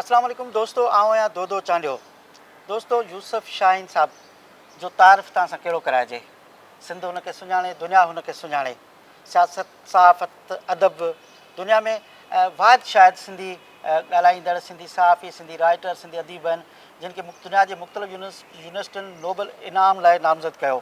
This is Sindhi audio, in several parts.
اسلام عليڪم دوستو آئون آهيان دودو چانڊيو دوستو يوسف شاهين صاحب جو تعارف توهان سان ڪهڙو ڪرائجي سنڌ هن کي سڃاڻي دنيا هن کي سڃاڻي سياست صحافت ادب دنيا ۾ واحد شايد سنڌي ڳالهائيندڙ سنڌي صحافي سنڌي رائيٽر سنڌي اديب آهن جن کي دنيا جي مختلف يونيورسٽين نوبل انعام لاء نامزد ڪيو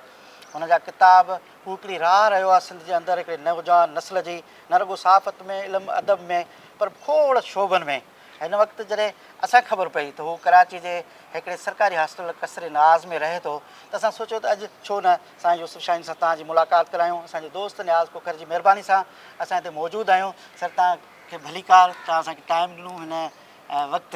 هن جا ڪتاب هو هڪڙي راهه رهيو آهي سنڌ جي اندر هڪڙي نوجوان نسل جي نه رڳو صحافت ۾ علم ادب ۾ پر کوڙ شعبن ۾ هن وقت جڏهن اسان کي خبر پئي ته هو ڪراچي جي هڪڙي سرڪاري هاسٽل قصر نياز ۾ رهي ٿو ته اسان سوچيو ته اڄ ڇو نه سائين يوسف شاهين سان توهان جي ملاقات ڪرايون اسان جي دوست نياز کوکر جي مهرباني سان اسان هتي موجود آهيون سر توهان کي ڀليڪار توهان اسان کي ٽائيم ڏنو هن وقت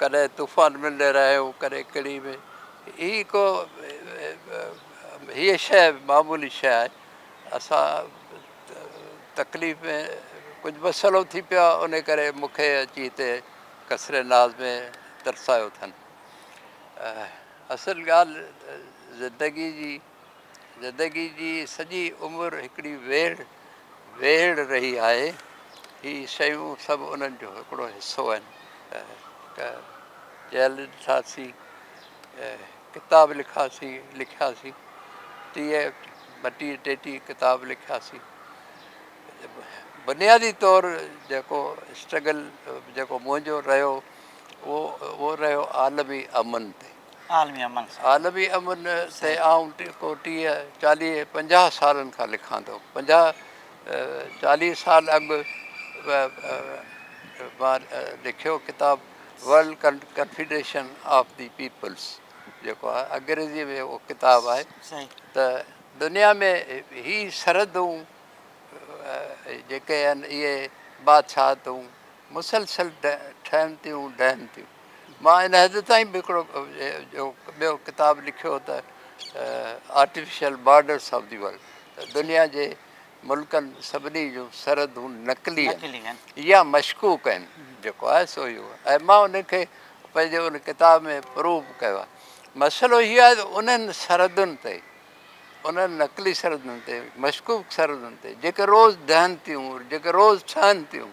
ڪڏهن طوفان ملندي رهيو ڪڏهن ڪڙي ۾ هي ڪو هيء شيء معمولي شيء آهي اسان تڪليف ۾ ڪجهه مسئلو ٿي پيو آهي انهي ڪري مون کي اچي هتي قصر ناز ۾ ترسايو اٿن اصل ڳالهه زندگي جي زندگي جي سڄي عمر هڪڙي ويڙهه ويڙهه رهي آهي. هي شيون سڀ انهن جو هڪڙو حصو آهن. ڪه جهل ڏٺاسين، ڪتاب لکاسين، لکياسين، ٽيهه ٻٽيهه ٽيٽيهه ڪتاب لکياسين. بنيادي طور جيڪو اسٽرگل جيڪو منهنجو رهيو اهو رهيو عالمي امن تي. عالمي امن سان. عالمي امن تي آئون ڪو ٽيهه، چاليهه، پنجاهه سالن کان لکان ٿو. پنجاهه، چاليهه سال اڳ به مان لکيو ڪتاب world confederation of the peoples جيڪو آهي انگريزيء ۾ اهو ڪتاب آهي ته دنيا ۾ هي سرحدون جيڪي آهن اهي بادشاهتون مسلسل ٺهن ٿيون ڊهن ٿيون. مان ان حد تائين به هڪڙو ٻيو ڪتاب لکيو ته artificial borders of the world ته دنيا جي ملڪن سڀني جون سرحدون نقلي آهن يا مشڪوڪ آهن جيڪو آهي سو اهو ۽ مان ان کي پنهنجي ان ڪتاب ۾ پروف ڪيو آهي مسئلو هي آهي ته انهن سرحدن تي انهن نقلي سرحدن تي، مشڪوڪ سرحدن تي، جيڪي روز ڊهن ٿيون، جيڪي روز ٺهن ٿيون،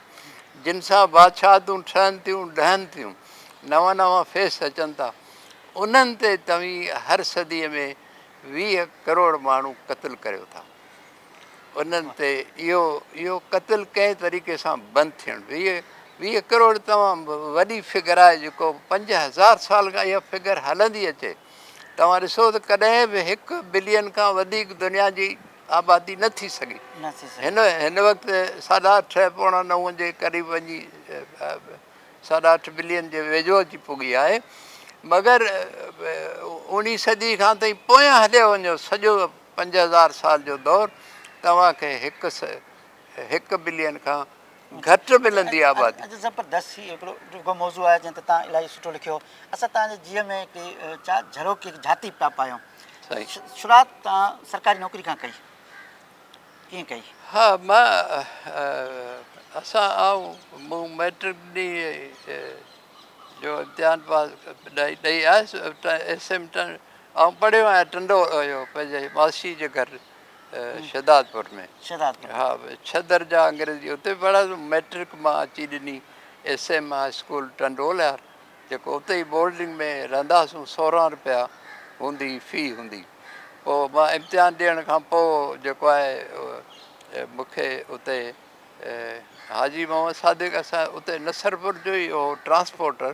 جن سان بادشاهتون ٺهن ٿيون، ڊهن ٿيون، نوان نوان فيس اچن ٿا، انهن تي توهين هر صديء ۾ ويهه ڪروڙ ماڻهو قتل ڪريو ٿا. انهن تي اهو اهو قتل ڪنهن طريقي سان بند ٿيڻ ويهه ويهه ڪروڙ تمام وڏي فگر آهي، جيڪو پنج هزار سال کان اها فگر هلندي اچي. توهان ڏسو ته ڪڏهن به هڪ بلين کان وڌيڪ دنيا جي آبادي نه ٿي سگهي. هن وقت ساڍا اٺ پوڻا نو جي قريب وڃي ساڍا اٺ بلين جي ويجهو اچي پڳي آهي مگر اوڻي صدي کان تائين پويان هليو وڃو سڄو پنج هزار سال جو دور توهان کي هڪ هڪ بلين کان گهٽ ملندي آبادي. اڄ زبردست هي هڪڙو ڊگهو موضوع آهي جنهن تي توهان الاهي سٺو لکيو اسان توهان جي جيء ۾ هڪڙي چا جهروڪي هڪ جهاتي پيا پايون شروعات توهان سرڪاري نوڪري کان ڪئي ڪيئن ڪئي؟ ها مان اسان آئون مون مئٽرڪ ڏي جو امتحان پاس ڏئي ڏئي آيس ايس ايم ٽن آئون پڙهيو آهيان ٽنڊو اهو پنهنجي ماسي جي گهر شھدادپور ۾ ھا ڇھ درجا انگريزي اتي پڙھيا مئٽرڪ مان اچي ڏني S M high school Tandoliyar جيڪو اتي ئي بورڊنگ ۾ رھندا ھئاسون سورنهن رپيا ھوندي في ھوندي پوء مان امتحان ڏيڻ کان پوء جيڪو آھي مون کي اتي حاجي محمد صادق اسان اتي نصرپور جو ئي ھو ٽرانسپورٽر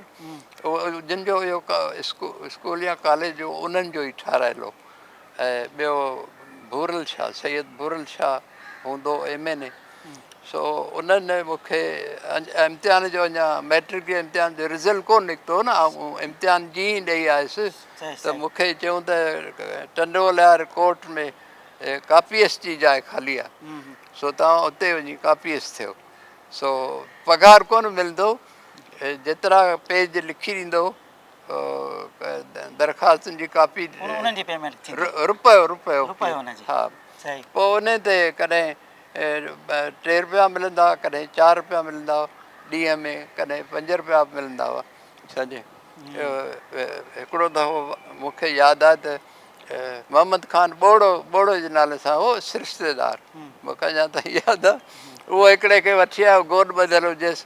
جن جو اھو اسڪول يا ڪاليج جو انھن جو ئي ٺھرايل ھو ۽ ٻيو ڀورل شاهه سيد ڀورل شاهه هوندو ايم اين اي سو انهن مون کي امتحان جو اڃا ميٽرڪ جي امتحان جو رزلٽ ڪو نڪتو نه آئون امتحان جي ئي ڏئي آيس ته مون کي چيون ته Tando Lahar court ۾ copyist جي جاء خالي آهي سو توهان اتي وڃي ڪاپي ايس ٿيو سو پگهار ڪونه ملندو جيترا پيج لکي ڏيندو درخواستن جي ڪاپي پوء ان تي ڪڏهن ٽي رپيا ملندا هئا ڪڏهن چار رپيا ملندا هئا ڏينهن ۾ ڪڏهن پنج رپيا به ملندا هئا سمجهي هڪڙو دفعو مونکي ياد آهي ته محمد خان ٻوڙو ٻوڙو جي نالي سان هو سرشتيدار مونکي اڃا تائين ياد آهي اهو هڪڙي کي وٺي آيو گوڏ ٻڌل هجيس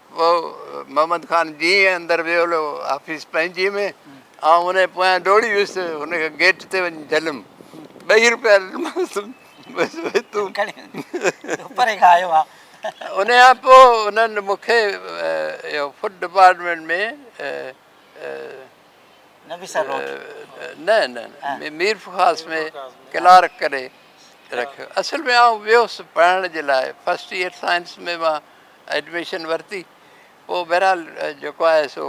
پوء محمد خان جيئن اندر ويو هليو آفيس پنهنجي ۾ آئون ان جي پويان ڊوڙي ويس هن کي گيٽ تي وڃي جهليم ٻئي روپيا ڏنمانس تون کڻي پري کان آيو آ ان کان پوء انهن مون کي اهو فوڊ ڊپارٽمينٽ ۾ نه نه مير فخاص ۾ ڪلارڪ ڪري رکيو اصل ۾ آئون ويس پڙهڻ جي لاء فرسٽ ايئر سائنس ۾ مان ايڊميشن ورتي پوء بهرحال جيڪو آهي سو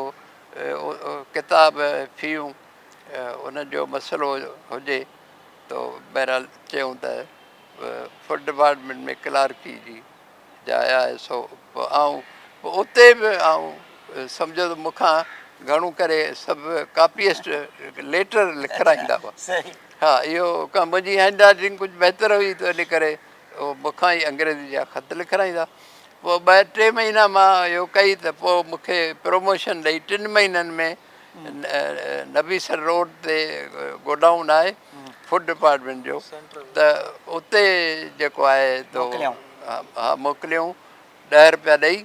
ڪتاب فيون ان جو مسئلو هجي تو بهرحال چيون ته فوڊ ڊپارٽمينٽ ۾ ڪلارڪي جي جاء آهي سو پوء آئون پوء اتي به آئون سمجهو ته مون کان گهڻو ڪري سڀ ڪاپيسٽ ليٽر لکرائيندا هئا ها اهو ڪم منهنجي هينڊ رائيٽنگ ڪجهه بهتر هئي ته ان ڪري هو مون کان ئي انگريزي جا خط لکرائيندا. پوء ٻه ٽي مهينا مان اهو ڪئي ته پوء مون کي پروموشن ڏئي ٽن مهينن ۾ نبي سر روڊ تي گوڊائون آهي فوڊ ڊپارٽمينٽ جو ته اتي جيڪو آهي تو ها موڪليائون ڏهه روپيا ڏئي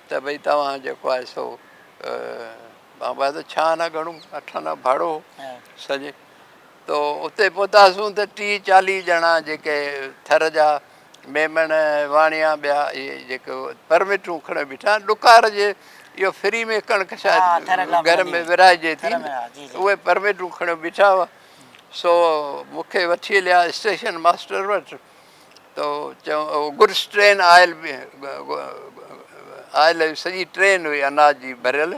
ته ڀئي توهان جيڪو آهي سو مان ٻڌايو ته ڇهه آنا گهڻو اٺ آنا ڀاڙو هو سڄي تو اتي پهتاسون ته ٽيهه چاليهه ڄڻا جيڪي ٿر جا ميمڻ، واڻيا ٻيا اهي جيڪي پرمٽون کڻي بيٺا آهن ڏڪار جي اهو فري ۾ ڪڻڪ شايد گهر ۾ ورهائجي ٿي اهي پرمٽون کڻي بيٺا هئا سو مون کي وٺي هليا اسٽيشن ماسٽر وٽ تو چيو گڊس ٽرين آيل آيل سڄي ٽرين هئي اناج جي ڀريل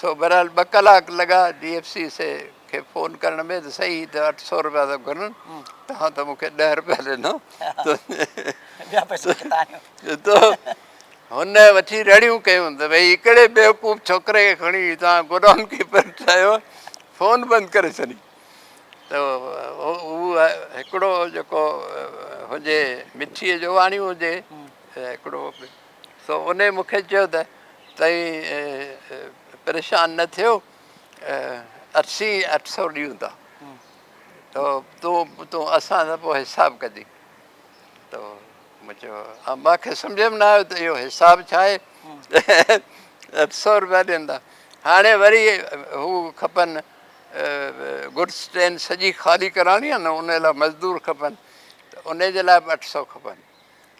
سو بهرحال ٻه ڪلاڪ لڳا ڊي ايف سي سي کي فون ڪرڻ ۾ ته سائين هي ته اٺ سؤ روپيا ٿا گهرن توهان ته مون کي ڏهه روپيا ڏنو تو هن وٺي رڙيون ڪيون ته ڀئي هڪڙي بيوقوف ڇوڪري کي کڻي توهان گوڊائون ڪيپر ٺاهيو فون بند ڪري ڇڏي ته هو هڪڙو جيڪو هجي مٺيء جو واڻيو هجي هڪڙو سو انهي مون کي چيو ته تئين پريشان نه ٿيو اسين اٺ سو ڏيون ٿا تو تون تون اسان سان پوء حساب ڪجي تو مون چيو مان کي سمجهه ۾ نه آيو ته اهو حساب ڇا آهي اٺ سو روپيا ڏين ٿا هاڻي وري هو کپن گڊس ٽرين سڄي خالي ڪرائڻي آهي نه ان لاء مزدور کپن ته ان جي لاء به اٺ سو کپن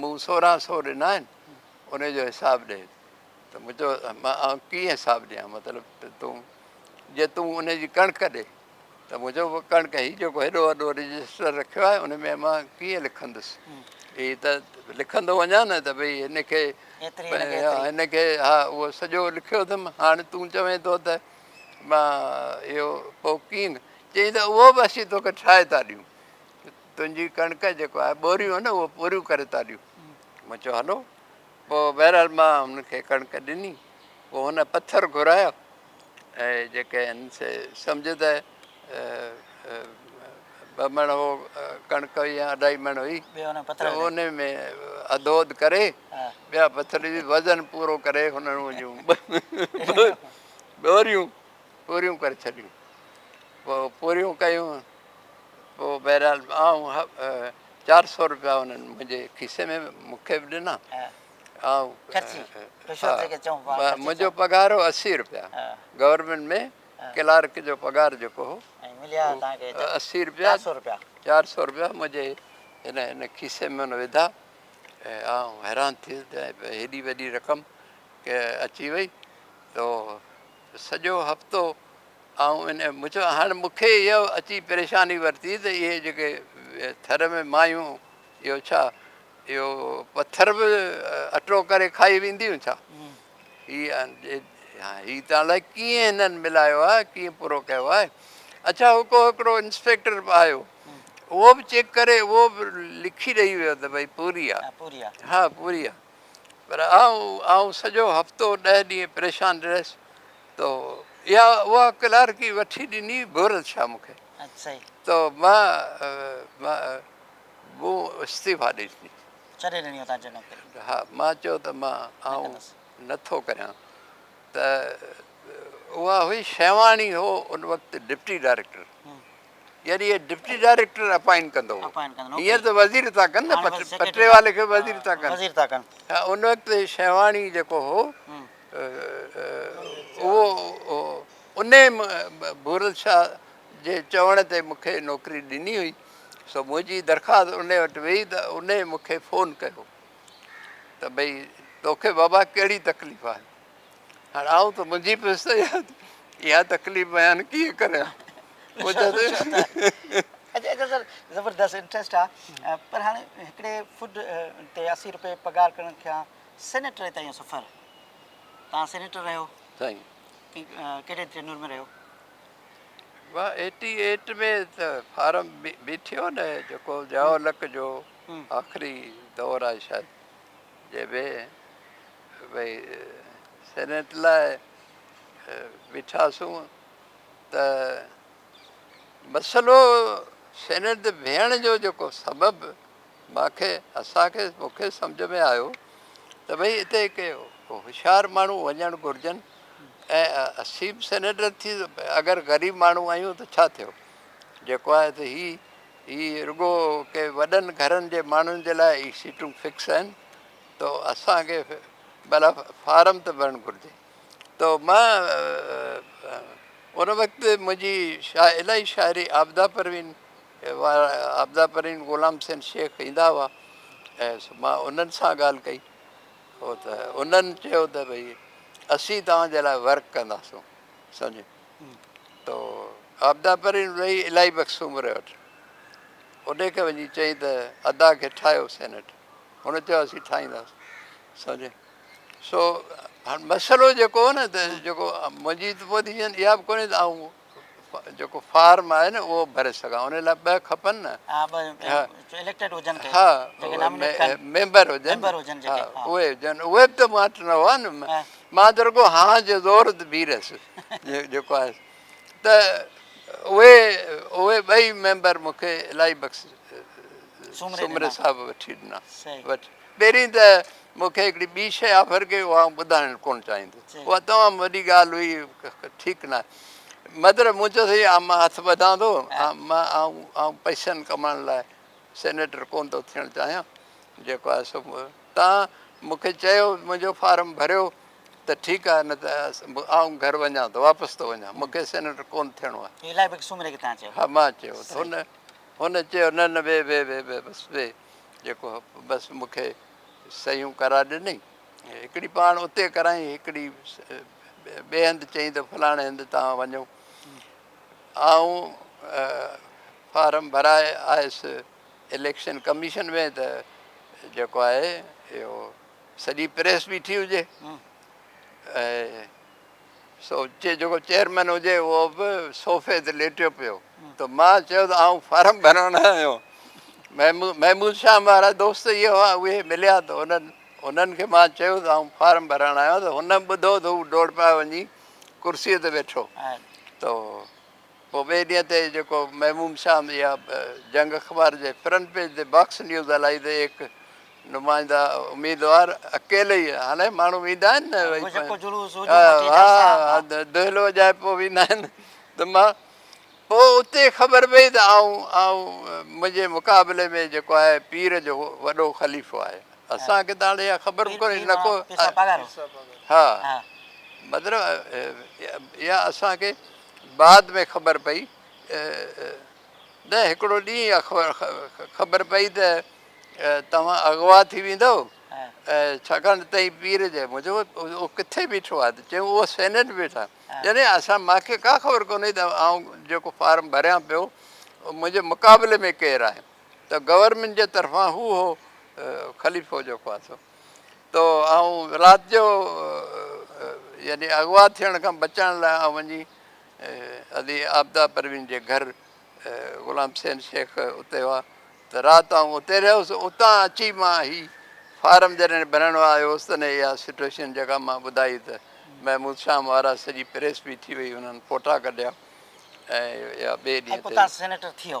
مون سورهن سو ڏنا آهن انهي جو حساب ڏي ته مون چيو مان آئون ڪيئن حساب ڏيان مطلب ته تون جي تون انهي جي ڪڻڪ ڏي ته مون چيو پوء ڪڻڪ هي جيڪو هيڏو وڏو رجسٽر رکيو آهي ان ۾ مان ڪيئن لکندس هي ته لکندو وڃان نه ته ڀئي هن کي هن کي ها اهو سڄو لکيو اٿم هاڻي تون چوين ٿو ته مان اهو پوء ڪيئن چيائين ته اهو به اسين توکي ٺاهي ٿا ڏيون تنهنجي ڪڻڪ جيڪو آهي ٻوريون آهن نه اهو پوريون ڪري ٿا ڏيون مون چيو هلو پوء بهرحال مان هن کي ڪڻڪ ڏني پوء هن پٿر گهرايا ۽ جيڪي آهن سي سمجهه ته ٻه مڻ هو ڪڻڪ هئي يا اڍائي مڻ هئي ته ان ۾ اڌو اڌ ڪري ٻيا پٿر جي وزن پورو ڪري هنن جون ٻوريون پوريون ڪري ڇڏيون پوء پوريون ڪيون پوء بهرحال آئون چار سؤ روپيا انهن منهنجي کيسي ۾ مون کي به ڏنا. منهنجو پگهار هو اسي روپيا. گورنمينٽ ۾ ڪلارڪ جو پگهار جيڪو هو اهو اسي روپيا چار سؤ روپيا منهنجي ان کيسي ۾ هن وڌا ۽ آئون حيران ٿي ويس ته هيڏي وڏي رقم اچي وئي تو سڄو هفتو آئون ان مچ هاڻي مون کي اها اچي پريشاني ورتي ته اهي جيڪي ٿر ۾ مايون اهو ڇا اهو پٿر به اٽو ڪري کائي وينديون ڇا هي هي ته الائي ڪيئن هنن ملايو آهي ڪيئن پورو ڪيو آهي اڇا هو ڪو هڪڙو انسپيڪٽر به آيو اهو به چيڪ ڪري اهو به لکي ڏئي ويو ته ڀئي پوري آهي ها پوري آهي پر آئون سڄو هفتو ڏهه ڏينهن پريشان رهيس تو اها اها ڪلارڪي وٺي ڏني ڀورت شاهه مون کي تو مان مون استعيفا ڏئي ڏني ڇڏي ڏني اتان جي نوڪري ها مان چيو ته مان آئون نه ٿو ڪريان ته اها هئي شيواڻي هو ان وقت ڊپٽي ڊائريڪٽر يعني اهي ڊپٽي ڊائريڪٽر اپائنٽ ڪندو هينئر ته وزير ٿا ڪن نه پٽي والي کي وزير ٿا ڪن وزير ٿا ڪن ان وقت شيواڻي جيڪو هو اهو ان ڀورل شاهه جي چوڻ تي مونکي نوڪري ڏني هئي سو منهنجي درخواست ان وٽ ويئي ته ان مونکي فون ڪيو ته ڀئي توکي بابا ڪهڙي تڪليف آهي هاڻ آئون ته منهنجي پيس ته اها تڪليف بيان ڪيئن ڪريان زبردست انٽرسٽ آ پر هاڻي هڪڙي فوڊ تي اسي روپيه پگهار ڪرڻ کان سينيٽر تائين سفر تان سينيٽر رهيو سائين ڪهڙي ترنور ۾ رهيو وا 88 ۾ ته فارم بي ٿيو نه جيڪو ضياء الحق جو آخري دور آهي شايد جي به ويهي سينيٽ لاء بيٺاسون ته مسئلو سينيٽ تي بيهڻ جو جيڪو سبب مان کي اسان کي مون کي سمجهه ۾ آيو ته ڀئي اتي ڪي هوشيار ماڻهو وڃڻ گهرجن ۽ اسين به سينيٽر ٿي اگر غريب ماڻهو آهيون ته ڇا ٿيو جيڪو آهي ته هي هي رڳو ڪي وڏن گهرن جي ماڻهن جي لاء هي سيٽون فڪس آهن تو اسان کي ڀلا فارم ته ڀرڻ گهرجي تو مان ان وقت منهنجي الائي شاعري عابده پروين وارا عابده پروين غلام حسين شيخ ايندا هئا ۽ مان انهن سان ڳالهه ڪئي هو ته انهن چيو ته ڀئي اسين توهان جي لاء ورڪ ڪنداسون سمجهي تو عابده پروين وئي الائي بخش سومري وٽ انهي کي وڃي چئي ته ادا کي ٺاهيو سينيٽر هن چيو اسين ٺاهينداسين سمجهي سو هاڻ مسئلو جيڪو هو نه ته جيڪو منهنجي ته پوزيشن اها به ڪونهي ته آئون جيڪو فارم آهي نه اهو ڀري سگھان ان لاء ٻه کپن نه ها ميمبر هجن اهي هجن اهي به ته ماٽ نه هئا نه مان ته رڳو هان جو زور تي بيهي رهيس جيڪو آهي ته اهي اهي ٻئي ميمبر مون کي الائي بخش سومري صاحب وٺي ڏنا. پهرين ته مون کي هڪڙي ٻي شيء آفر ڪئي اها آئون ٻڌائڻ ڪونه چاهيندس. اها تمام وڏي ڳالهه هئي ٺيڪ نه آهي. مطلب مون چيو سائين اها مان هٿ ٻڌان ٿو مان آئون پئسن ڪمائڻ لاء سينيٽر ڪونه ٿو ٿيڻ چاهيان جيڪو آهي سو تان مون کي چيو منهنجو فارم ڀريو ته ٺيڪ آهي نه ته آئون گهر وڃان ٿو واپس ٿو وڃان مون کي سينيٽر ڪونه ٿيڻو آهي. هي الائي بڪسوم رهي ڪٿان چيو. ها مان چيو ته هن هن چيو نه نه ويهه ويهه ويهه ويهه بس ويهه جيڪو بس مون کي صحيحون ڪرائي ڏنئي هڪڙي پاڻ اتي ڪرايئي هڪڙي ٻئي هنڌ چيائين ته فلاڻي هنڌ توهان وڃو آئون فارم ڀرائي آيس اليڪشن ڪميشن ۾ ته جيڪو آهي اهو سڄي پريس بيٺي هجي ۽ جيڪو چيئرمين هجي اهو به صوفي تي ليٽيو پيو ته مان چيو ته آئون فارم ڀرڻ نه آيو محمود شاهه وارا دوست اهي هئا اهي مليا ته انهن انهن کي مان چيو ته آئون فارم ڀرڻ آيو ته هن ٻڌو ته هو ڊوڙ پايو وڃي ڪرسيء تي ويٺو ته پوء ٻئي ڏينهن تي جيڪو محموم شام اها جنگ اخبار جي فرنٽ پيج تي باڪس نيوز هلائي ته ايڪ نمائنده اميدوار اڪيلي ئي هاڻي ماڻهو ويندا آهن نه دهلو وڄائي پوء ويندا آهن ته مان پوء اتي خبر پئي ته آئون آئون منهنجي مقابلي ۾ جيڪو آهي پير جو وڏو خليفو آهي اسان کي ته هاڻي اها خبر به ڪونهي نه ڪو ها مطلب اها اسان کي بعد ۾ خبر پئي نه هڪڙو ڏينهن خبر پئي ته توهان اغوا ٿي ويندؤ ڇاڪاڻ ته تئين پير جي مون چيو اهو ڪٿي بيٺو آهي ته چيائون اهو سينيٽ بيٺا يعني اسان مان کي ڪا خبر ڪونهي ته آئون جيڪو فارم ڀريان پيو منهنجي مقابلي ۾ ڪير آهي ته گورنمينٽ جي طرفان هو هو خليفو جيڪو آهي سو ته آئون رات جو يعني اغوا ٿيڻ کان بچڻ لاء آئون وڃي علي عابده پروين جي گهر غلام حسين شيخ اتي هئا ته رات آئون اتي رهيس اتان اچي مان هي فارم جڏهن ڀرڻ آيو هوس تڏهن اها سچويشن جيڪا مان ٻڌائي ته محمود شام وارا سڄي پريس بيٺي هئي انهن فوٽا ڪڍيا ۽ اها ٻئي ڏينهن تي سينيٽر ٿيو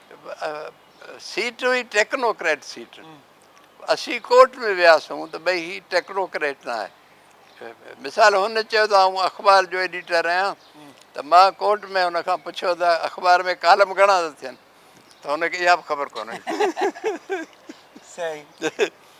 سيٽ هئي ٽيڪنوڪريٽ سيٽ اسين ڪورٽ ۾ وياسون ته ڀئي هي ٽيڪنوڪريٽ نه آهي مثال هن چيو ته آئون اخبار جو ايڊيٽر آهيان ته مان ڪورٽ ۾ هن کان پڇيو ته اخبار ۾ ڪالم گهڻا ٿا ٿين ته هن کي اها به خبر ڪونهي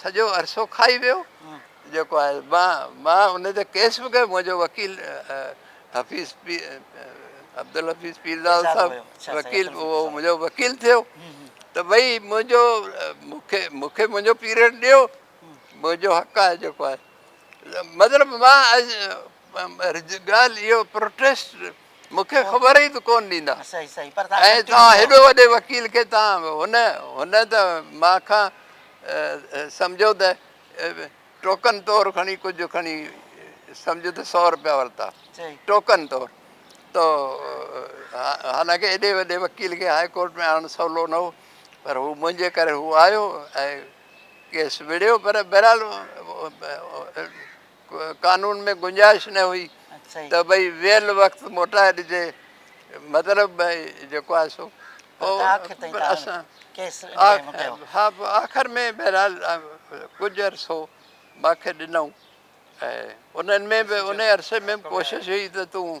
سڄو عرصو کائي ويو جيڪو آهي مان ان تي ڪيس به ڪيو منهنجو وڪيل حفيظ عبدالحفيظ پيرزاد صاحب وڪيل اهو منهنجو وڪيل ٿيو ته ڀئي منهنجو مونکي مونکي منهنجو پيريڊ ڏيو منهنجو حق آهي جيڪو آهي مطلب مان ڳالهه اهو پروٽيسٽ مون کي خبر ئي ته ڪون ڏيندا ۽ توهان هيڏو وڏي وڪيل کي توهان هن هن ته مان کان سمجهو ته ٽوڪن طور کڻي ڪجهه کڻي سمجهه ته سؤ روپيا ورتا ٽوڪن طور تو حالانڪه ايڏي وڏي وڪيل کي هاء ڪورٽ ۾ آڻڻ سولو نه هو پر هو منهنجي ڪري هو آيو ۽ ڪيس وڙهيو پر بهرحال قانون ۾ گنجائش نه هئي ته ڀئي ويل وقت موٽائي ڏجي مطلب ڀئي جيڪو آهي سو آخر ۾ بهرحال ڪجهه عرصو ماکي ڏنائون انهن ۾ به انهي عرصي ۾ به ڪوشش هئي ته تون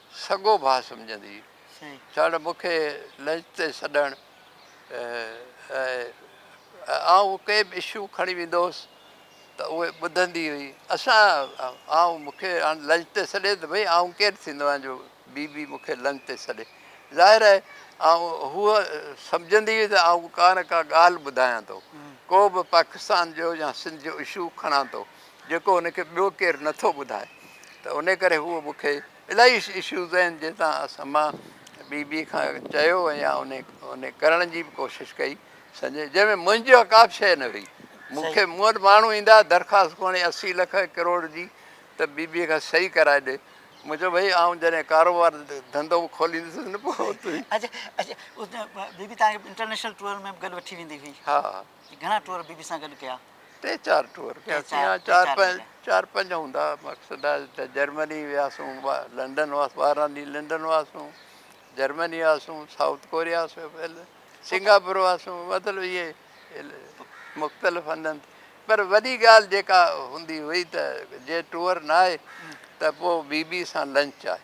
سڳو ڀاء سمجهندي چاڙهه مون کي لنچ تي سڏڻ ۽ آئون ڪي به اشو کڻي ويندو هوس ته اهي ٻڌندي هئي اسان آئون مون کي هاڻ لنچ تي سڏي ته ڀئي آئون ڪير ٿيندو آهيان جو بي بي مون کي لنچ تي سڏي ظاهر آهي آئون هوء سمجهندي هئي ته آئون ڪا نه ڪا ڳالهه ٻڌايان ٿو ڪو به پاڪستان جو يا سنڌ جو اشو کڻان ٿو جيڪو ان کي ٻيو ڪير نه ٿو ٻڌائي ته ان ڪري هو مون کي الاهي اشوز آهن جنهن تان اسان مان ٻي ٻي کان چيو يا ان ان ڪرڻ جي به ڪوشش ڪئي سنجي جنهن ۾ منهنجي ڪا به شيء نه هئي مون کي مون وٽ ماڻهو ايندا هئا درخواست کڻي اسي لک ڪروڙ جي ته ٻي ٻي کان صحيح ڪرائي ڏي مون چيو ڀئي آئون جڏهن ڪاروبار ڌنڌو به کوليندس نه پوء تون اڇا اڇا بي بي تان کي انٽرنيشنل ٽوئر ۾ به گڏ وٺي ويندي هئي ها جي گهڻا ٽوئر بي بي سان گڏ ڪيا؟ ٽي چار ٽوئر ڪياسين يا چار پنج چار پنج هوندا مقصد آهي ته جرمني وياسون لنڊن هئاسون ٻارهن ڏينهن لنڊن هئاسون جرمني هئاسون سائوٿ ڪوريا سنگاپور هئاسون مطلب اهي مختلف هنڌن تي پر وڏي ڳالهه جيڪا هوندي هئي ته جي ٽوئر ناهي ته پوء بي بي سان لنچ آهي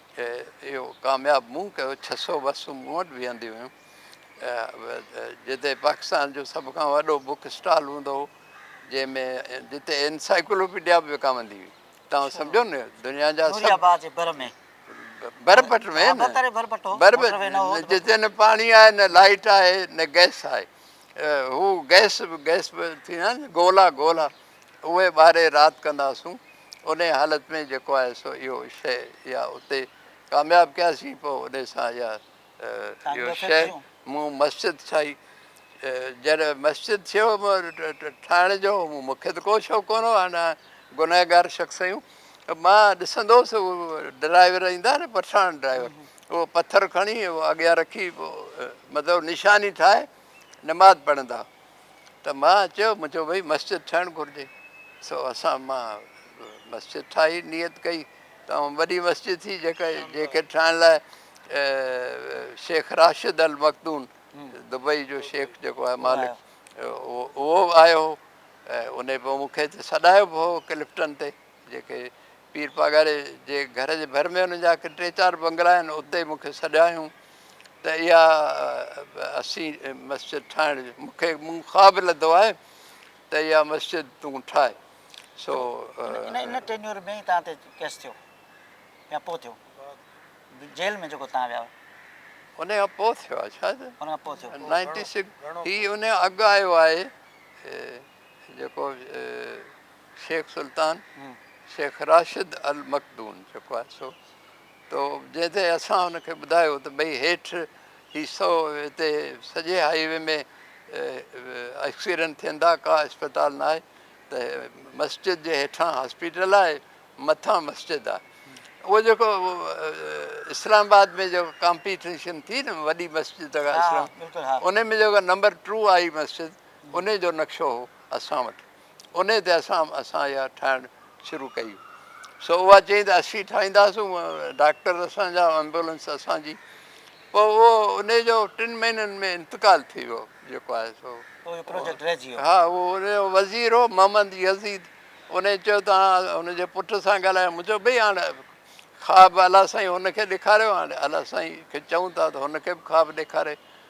اهو ڪامياب مون ڪيو ڇهه سؤ بسون مون وٽ بيهنديون هيون جتي پاڪستان جو سڀ کان وڏو بوڪ اسٽال هوندو هو جنهن ۾ جتي انسائيڪلوپيڊيا به وڪامندي هئي توهان سمجهو نه دنيا جا برپٽ ۾ جتي نه پاڻي آهي نه لائيٽ آهي نه گئس آهي هو گئس گئس به ٿيندا آهن گولا گولا اهي ٻاهري رات ڪنداسون انهي حالت ۾ جيڪو آهي سو اهو شيء يا اتي ڪامياب ڪياسين پوء انهي سان يا اهو شيء مون مسجد ٺاهي جڏهن مسجد ٿيو ٺاهڻ جو مون کي ته ڪو شوق ڪونه هو هن گنهگار شخص آهيون مان ڏسندو هوس اهو ڊرائيور ايندا نه پٺاڻ ڊرائيور اهو پٿر کڻي اهو اڳيان رکي مطلب نشاني ٺاهي نماز پڙهندا ته مان چيو جو ڀئي مسجد ٺهڻ گهرجي سو اسان مان مسجد ٺاهي نيت ڪئي ته اها وڏي مسجد ٿي جيڪا جيڪي ٺاهڻ لاء شيخ راشد المخدون دبئي جو شيخ جيڪو آهي مالڪ اهو آيو هو ان پوء مون کي سڏايو به هو ڪلفٽن تي جيڪي پير پاڳاري جي گهر جي ڀر ۾ ان جا ڪي ٽي چار بنگلا آهن اتي مون کي سڏايائون ته اها اسين مسجد ٺاهڻ جي مون کي مون خواب لڌو آهي ته اها مسجد تون ٺاهه سو ان ان ٽينيور ۾ ئي توهان تي ڪيس ٿيو يا پوء ٿيو جيل ۾ جيڪو توهان ويا ان کان پوء ٿيو آهي شايد ان کان پوء ٿيو نائنٽي سڪس هي ان کان اڳ آيو آهي جيڪو شيخ سلطان شيخ راشد المخدوم جيڪو آهي سو تو جنهن تي اسان ان کي ٻڌايو ته ڀئي هيٺ هي سو هتي سڄي هائي وي ۾ ايڪسيڊنٽ ٿين ٿا ڪا اسپتال نه آهي ته مسجد جي هيٺان هاسپيٽل آهي مٿان مسجد آهي اهو جيڪو اسلام آباد ۾ جيڪو ڪامپيٽيشن ٿي نه وڏي مسجد اسلام ان ۾ جيڪو نمبر ٽو آئي مسجد ان جو نقشو هو اسان وٽ انهيء تي اسان اسان اها ٺاهڻ شروع ڪئي. سو اها چيائين ته اسين ٺاهينداسون ڊاڪٽر اسان جا ايمبولينس اسان جي. پوء اهو انهيء جو ٽن مهينن ۾ انتقال ٿي ويو جيڪو آهي سو. پوء اهو پروجيڪٽ رهجي ويو. ها اهو انهيء جو وزير هو محمد يزيد انهيء چيو ته آء هن جي پٽ سان ڳالهايم مون چيو ڀئي هاڻ خواب الله سائين هن کي ڏيکاريو هاڻي الله سائين کي چئون ٿا ته هن کي به خواب ڏيکاري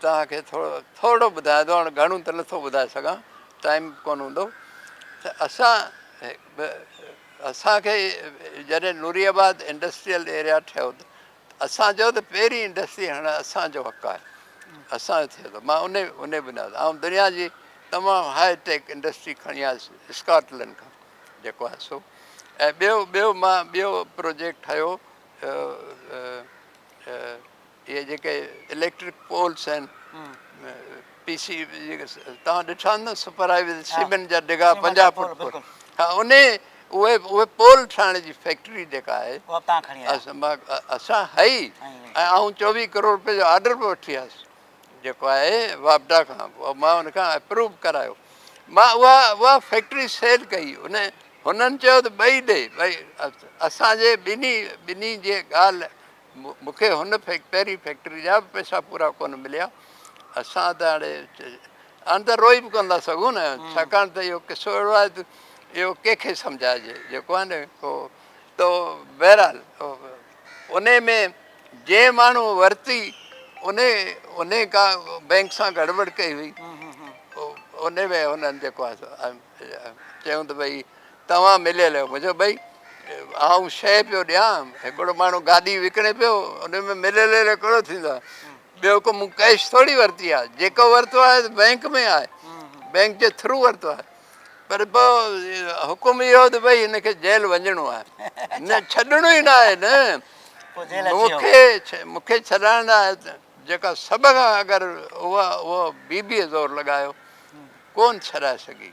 توهان کي ٿورو ٿورڙو ٻڌايان ٿو هاڻي گهڻو ته نٿو ٻڌائي سگهان ٽائيم به ڪونه هوندو ته اسان اسانکي جڏهن نوري آباد انڊسٽريل ايريا ٺهيو ته اسان چيو ته پهرين انڊسٽري هڻڻ اسانجو حق آهي اسانجو ٿيو ته مان انهي انهي بنياد آئون دنيا جي تمام هاء ٽيڪ انڊسٽري کڻي آيس اسڪاٽلنڊ کان جيڪو آهي سو ۽ ٻيو ٻيو مان ٻيو پروجيڪٽ ٺهيو اهي جيڪي اليڪٽرڪ پولس آهن پي سي جيڪي توهان ڏٺا آهن نه سپر هاء ويز سيمنٽ جا ڊگها پنجاهه فوٽ پول ها ان اهي اهي پول ٺاهڻ جي فيڪٽري جيڪا آهي اسان هئي ۽ آئون چوويهه ڪروڙ روپيه جو آرڊر به وٺي آيس جيڪو آهي واپڊا کان مان ان کان اپروو ڪرايو مان اها اها فيڪٽري سيل ڪئي ان هنن چيو ته ٻئي ڏي ٻئي اسانجي ٻنهي ٻنهي جي ڳالهه مون کي هن پهرين فيڪٽري جا به پئسا پورا ڪونه مليا. اسان ته هاڻي اندر روئي به ڪونه ٿا سگهون نه، ڇاڪاڻ ته اهو قصو اهڙو آهي ته اهو ڪنهن کي سمجهائجي، جيڪو آهي نه ڪو ته بهرحال انهي ۾ جنهن ماڻهوء ورتي انهي انهي ڪا بئنڪ سان گڙٻڙ ڪئي هئي، انهي ۾ هنن جيڪو آهي سو چيائون ته ڀئي توهان مليل آهيو مون چيو ڀئي آئون شيء پيو ڏيان هڪڙو ماڻهو گادي وڪڻي پيو ان ۾ مليل جو ڪهڙو ٿيندو آهي ٻيو ڪو مون ڪئش ٿوري ورتي آهي جيڪو ورتو آهي ته بئنڪ ۾ آهي بئنڪ جي ٿرو ورتو آهي پر پو حڪم اهو ته ڀئي هن کي جيل وڃڻو آهي نه ڇڏڻو ئي نه آهي نه مون کي مون کي ڇڏائڻ لاء جيڪا سڀ کان اگر هو بيبيء زور لڳايو ڪون ڇڏائي سگهي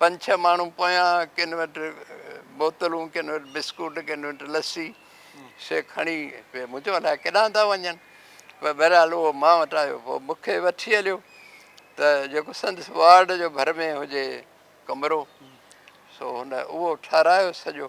پنج ڇهه ماڻهو پويان ڪن وٽ بوتلون ڪن وٽ بسڪوٽ ڪن وٽ لسي سي کڻي پي مون چيو الاء ڪيڏانهن ٿا وڃن پر بهرحال اهو مان وٽ آيو پوء مون کي وٺي هليو ته جيڪو سندس وارڊ جو ڀر ۾ هجي ڪمرو سو هن اهو ٺهرايو سڄو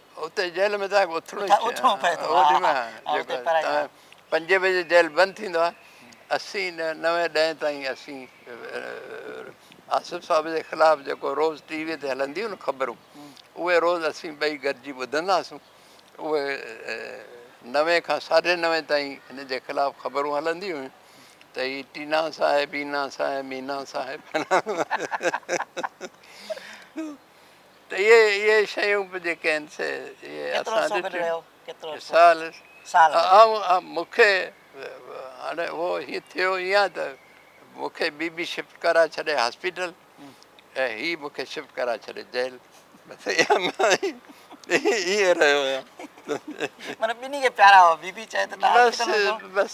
اتي جيل ۾ تنهن کي اٿڻو ئي اٿڻو پئي ٿو پنجين بجي جيل بند ٿيندو آهي اسين نوين ڏهين تائين اسين آصف صاحب جي خلاف جيڪو روز ٽي وي تي هلنديون نه خبرون اهي روز اسين ٻئي گڏجي ٻڌندا هئاسون اهي نوين کان ساڍي نوين تائين هن جي خلاف خبرون هلنديون هيون ته هي ٽينا صاحب هينا صاحب مينا صاحب ته اهي اهي شيون به جيڪي آهن سي اهي اسان ڏٺيون سال سال آئون مون کي هاڻي اهو هي ٿيو ايئن ته مون کي بي بي شفٽ ڪرائي ڇڏي هاسپيٽل ۽ هي مون کي شفٽ ڪرائي ڇڏي جيل بس ايئن رهيو آهيان معنيٰ ٻنهي کي پيارا هئا بي بي چاهي ته تون بس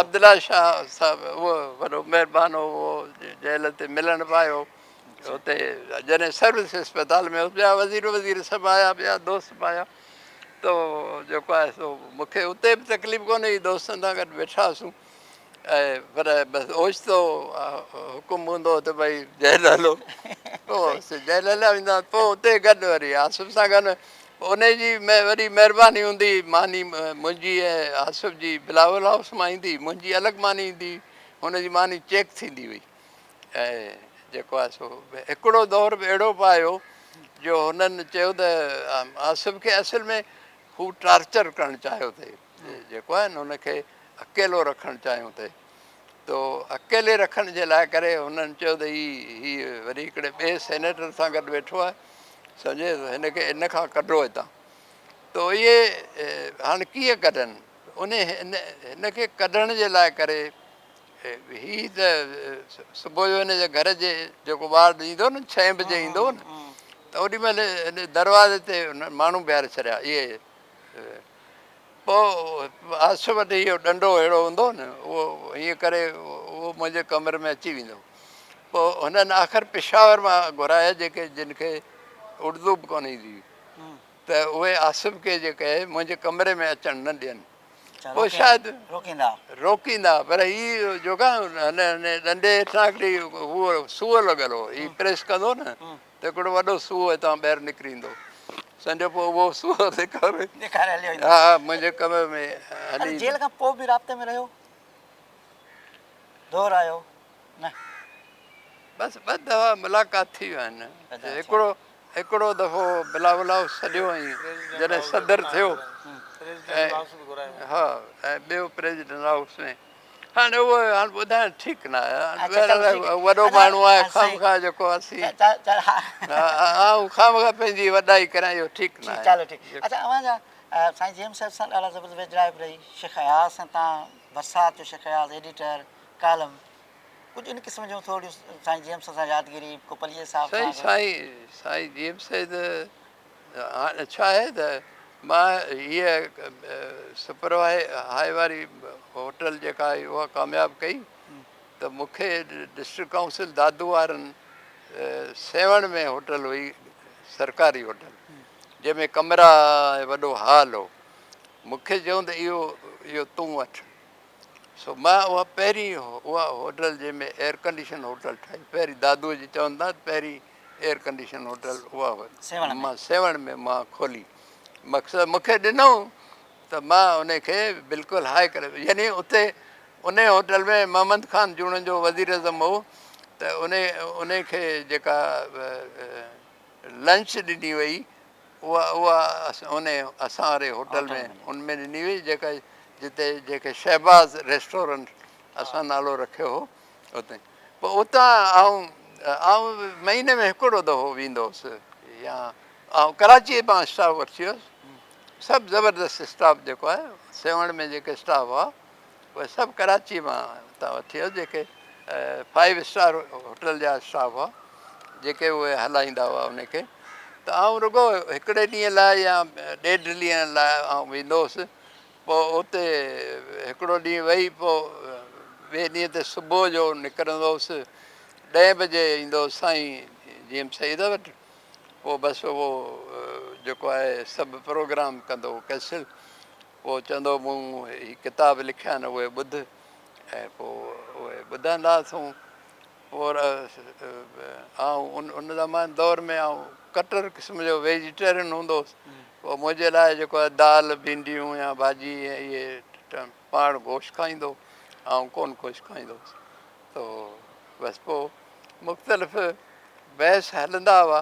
عبدالله شاهه صاحب اهو وڏو مهربان هو جيل تي ملڻ به آيو اتي جڏهن سروس اسپتال ۾ هوس ٻيا وزير وزير سڀ آيا ٻيا دوست به آيا ته جيڪو آهي سو مون کي اتي به تڪليف ڪونهي هئي دوستن سان گڏ ويٺا هئاسون ۽ پر بس اوچتو حڪم هوندو هو ته ڀئي جيل هلو پوء جيل هليا ويندا پوء اتي گڏ وري آصف سان گڏ ان جي وڏي مهرباني هوندي ماني منهنجي ۽ آصف جي بلاول هائوس مان ايندي منهنجي الڳ ماني ايندي هن جي ماني چيڪ ٿيندي هئي ۽ جيڪو آهي سو هڪڙو دور به اهڙو به آيو جو هنن چيو ته آصف کي اصل ۾ هو ٽارچر ڪرڻ چاهيو ٿي جيڪو آهي نه هن کي اڪيلو رکڻ چاهيو ٿي تو اڪيلي رکڻ جي لاء ڪري هنن چيو ته هي هي وري هڪڙي ٻئي سينيٽر سان گڏ ويٺو آهي سمجهي هن کي ان کان ڪڍو هتان تو اهي هاڻي ڪيئن ڪڍن ان هن کي ڪڍڻ جي لاء ڪري هي ته صبح جو هن جي گهر جي جيڪو وارڊ ايندو نه ڇهين بجي ايندو نه ته اوڏي مهل هن دروازي تي ماڻهو بيهاري ڇڏيا اهي پوء عرش وٽ اهو ڏنڊو اهڙو هوندو نه اهو ائين ڪري اهو منهنجي ڪمري ۾ اچي ويندو پوء هنن آخر پشاور مان گهرايا جيڪي جن کي اردو به ڪونه ايندي هئي ته اهي آصف کي جي ڪهي منهنجي ڪمري ۾ اچڻ نه ڏين پوء شايد روڪيندا روڪيندا پر هي جوڪا هن هن ڏنڊي هيٺان هڪڙي هو سوء لڳل هو هي پريس ڪندو نه ته هڪڙو وڏو سوء هتان ٻاهر نڪري ايندو سمجهو پوء اهو سوء ڏيکاري ڏيکاري هليو ويندو ها منهنجي ڪمري ۾ هلي جيل کان پوء به رابطي ۾ رهيو دور آيو نه بس ٻه دفعا ملاقات ٿي ويا آهن هڪڙو هڪڙو دفعو بلاولائوس سڏيو ۽ جڏهن صدر ٿيو ۽ ٻيو پريزيڊنٽ هائوس ۾ هاڻي اهو هاڻي ٻڌائڻ ٺيڪ نه آهي بهرحال وڏو ماڻهو آهي خامخواه جيڪو اسين آئون خامخواه پنهنجي وڏائي ڪريان اهو ٺيڪ نه آهي چلو ٺيڪ اچھا اوهان جا سائين جيمس صاحب سان ڏاڍا زبردست ويجهڙائپ رهي شيخ اياز سان تان برسات جو شيخ اياز ايڊيٽر ڪالم ڪجهه ان قسم جون ٿورڙيون سائين جيمس سان يادگيري ڪو پليجي صاحب سان سائين سائين سائين جيمس سائين ته هاڻ ڇا آهي ته مان هيء سپر هاء هاء واري هوٽل جيڪا آهي اها ڪامياب ڪئي ته مون کي ڊسٽرڪٽ ڪائونسل دادو وارن سيوهڻ ۾ هوٽل هئي سرڪاري هوٽل جنهن ۾ ڪمرا ۽ وڏو هال هو مون کي چيائون ته اهو اهو تون وٺ سو مان اها پهرين اها هوٽل جنهن ۾ ايئر ڪنڊيشن هوٽل ٺاهي پهرين دادوء جي چون تان پهرين ايئر ڪنڊيشن هوٽل اها مان سيوهڻ ۾ مان کولي مقصد مونکي ڏنو ته مان ان کي بلڪل هاء ڪري يعني اتي ان هوٽل ۾ محمد خان جوڻ جو وزير اعظم هو ته ان ان کي جيڪا لنچ ڏني وئي اها اها انهي اسان واري هوٽل ۾ ان ۾ ڏني وئي جيڪا جتي جيڪي شهباز ريسٽورنٽ اسان نالو رکيو هو اتي پوء اتان آئون آئون مهيني ۾ هڪڙو دفعو ويندو هوس يا آئون ڪراچي مان اسٽاف وٺي ويس سڀ زبردست اسٽاف جيڪو آهي سيوهڻ ۾ جيڪي اسٽاف هئا اهي سڀ ڪراچيء مان اتان اٿيو جيڪي فائيو اسٽار هوٽل جا اسٽاف هئا جيڪي اهي هلائيندا هئا ان کي ته آئون رڳو هڪڙي ڏينهن لاء يا ڏيڍ ڏينهن لاء آئون ويندو هوس پوء اتي هڪڙو ڏينهن ويهي پوء ٻئي ڏينهن تي صبح جو نڪرندو هوس ڏهين بجي ايندو هوس سائين جي ايم سيد وٽ پوء بس اهو جيڪو آهي سڀ پروگرام ڪندو هو ڪئنسل پوء چوندو مون هي ڪتاب لکيا آهن اهي ٻڌ ۽ پوء اهي ٻڌندا اٿئون اور آئون ان زمان دور ۾ آئون ڪٽر قسم جو ويجيٽيرين هوندو هوس پوء منهنجي لاء جيڪو آهي دال ڀينڊيون يا ڀاڄي اهي پاڻ گوشت کائيندو آئون ڪونه گوشت کائيندو هوس تو بس پوء مختلف بحث هلندا هئا